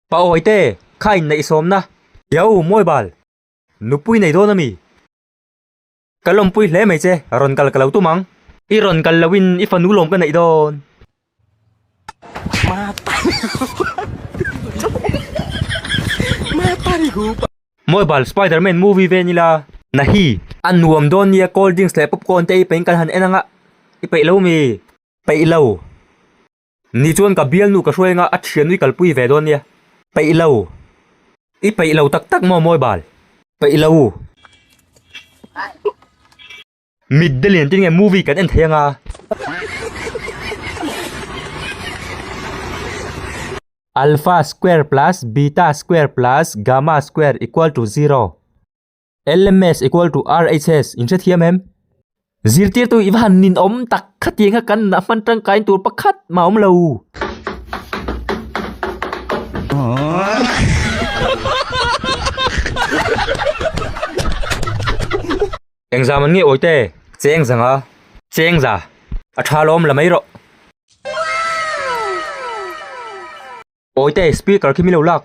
Pa awi te, kha inneih sawm na. Yau, mawi bal. Nupui nei dawn ami? Ka lawmpui hle mai che, rawn kal ka lo tum ang. I rawn kal lo in i fanu lawm ka neih dawn. Mobile spiderman movie ve nila na hi a nuam dawn nia cold drinks leh popcorn te i pahin kan han en ang a i paih lo mi paih lo ni chuan ka bialnu ka hruai anga a thianui kal pui ve dawn nia paih lo i paih lo tak tak maw mobile paih lo. Mit de lian te nge movie kan en thei anga. Alpha square plus beta square plus gamma square equal to zero. Lms equal to RHS, in hrethiam em? Zirtirtu i va han nin awm tak khatia kha kan na hman tangkain tur pakhat mah awm lo. Eng zam an nge awi te? Cheng zanga cheng za a tha lawm la mai rawh. Awi te speaker khi mi lo lak.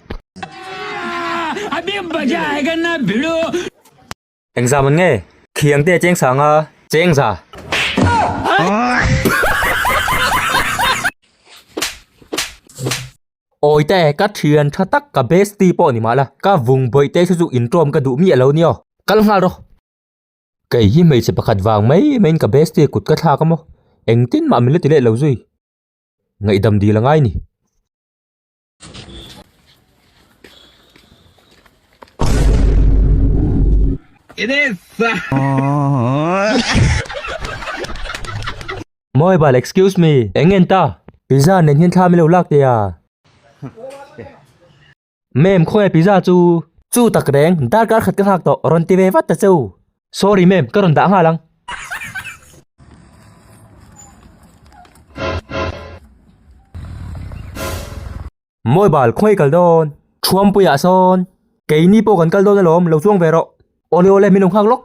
Eng zam an nge? Khiang te cheng sanga cheng za. Awi ta e, ka thian tha tak, ka bestie pawh ni mahna, ka vung bawih te chu chu inṭawm ka duh miah lo ni aw. Kal nghal rawh. Kei hi hmeichhe pakhat vang mai maiin ka bestie kut ka thlak a maw? Engtin mah min la ti leh lo zui. Ngaihdam dil a ngai ni. It is! Mobile, excuse me, eng ngen ta? Pizza nen hian thla milo lak tia. Ma'am, khawnge pizza chu? Chu tak reng, dar kar khat ka nghak tawh, rawn ti ve vat ta chu. Sorry ma'am, ka rawn dah nghal ang. Mobile, khawnge i kal dawn? Thuampuiah sawn, keini pawh kan kal dawn alawm, lo chuang ve rawh. Awle awle, min lo nghak lawk.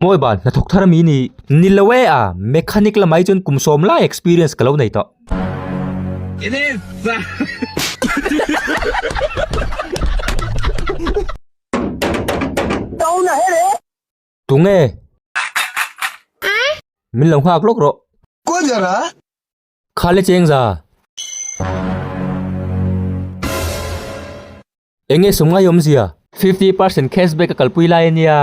Mawi ban, hnathawk thar ami ni. Ni lo e a, mechanic lamah hi chuan kum sawm lai experience ka lo nei tawh. It is sir. Tuna he le. Tu nge. Min lo nghak lawk rawh. Kuajarah. Kha le cheng za. Eng nge sawmngai awm zia. Fifty percent cash back a kalpui lai a nia.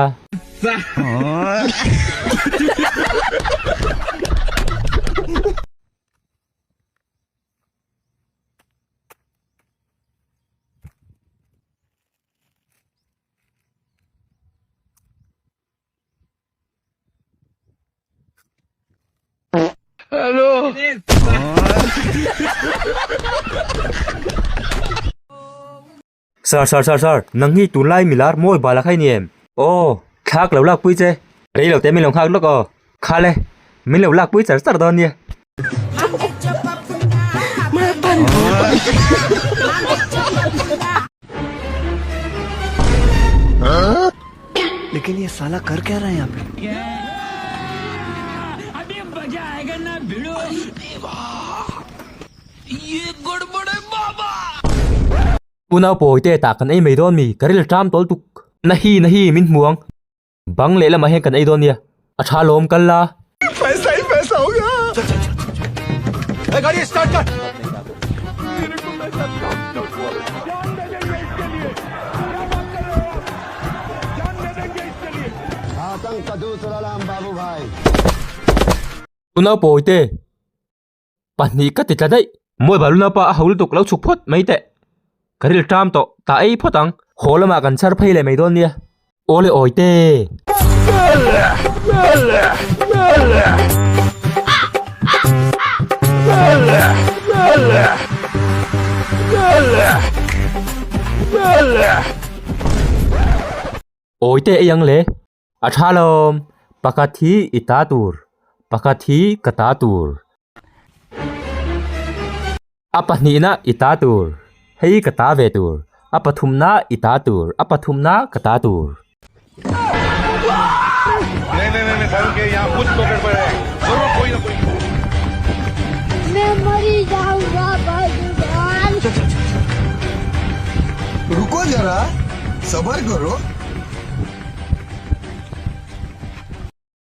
Sir sir sir sir nang hi tunlai milar mawi bala kha i ni em? Aw thlak lo lakpui che. Rei lo te min lo nghak lawk aw. Khale min lo lakpui char char dawn nia. Unau pawi te tah kan ei mai dawn mi ka rel ṭam tawl tuk. Na hi na hi min hmu ang. Bang leh lamah hian kan ei dawn nia, a tha lawm kal la. Paisa i paisa awm nia. Chal chal chal chal chal. He gari start kar. Tuna pawi te. Pahnih ka ti tla daih. Mawi baluna pa a ho lutuk lo chhuk phawt mai teh. Ka ril ṭam tawh ta ei phawt ang. Haw lamah kan chhar phei leh mai dawn nia. Aw le awi te. Awi te ei ang le. A tha lawm, pakhat hi i ta tur, pakhat hi ka ta tur. A pahnihna i ta tur, hei ka ta ve tur. A pathumna i ta tur, a pathumna ka ta tur.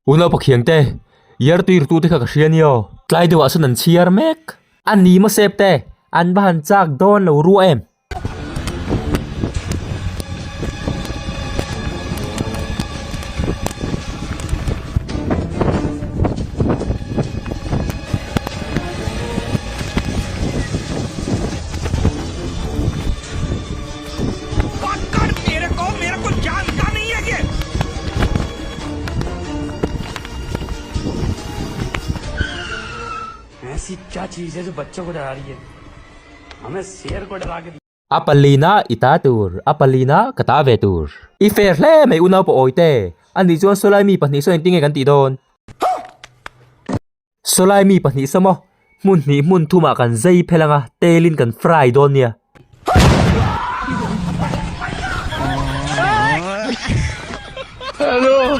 U Naupa Khiang te, Year tuir tu te kha ka hria ni aw. Tlai deuh ah sawn an chhiar mek. A ni maw Sep te, an va han chak dawn lo ruah em? A palina i ta tur, a palina ka ta ve tur. I fer hle mai u naupawh awite, anih chuan saw lai mi pahnih saw engtin nge kan tih dawn? Sawlai mi pahnih sa maw? Hmun hnih hmun thumah kan zei phelh anga telin kan fry dawn nia. Hello.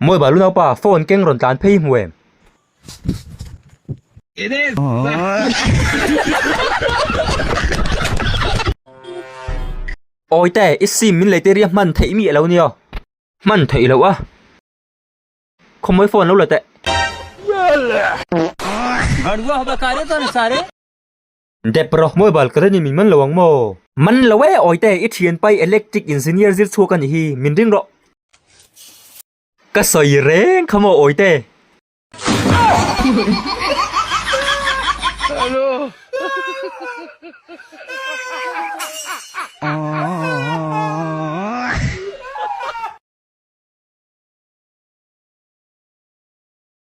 Mawi bal u naupa, phone keng rawn tlan phei hmu em. It is. Awi ta e, i sim min lei tir i a hman theih mi a lo ni aw. Hman theih loh a, khawmawih phone lo la teh. Dep rawh, mobile ka reni min man lo ang maw? Man lo e awite, i thian pai electric engineer zir chhuak a nih hi, min ring rawh. Ka sawi reng kha maw awite?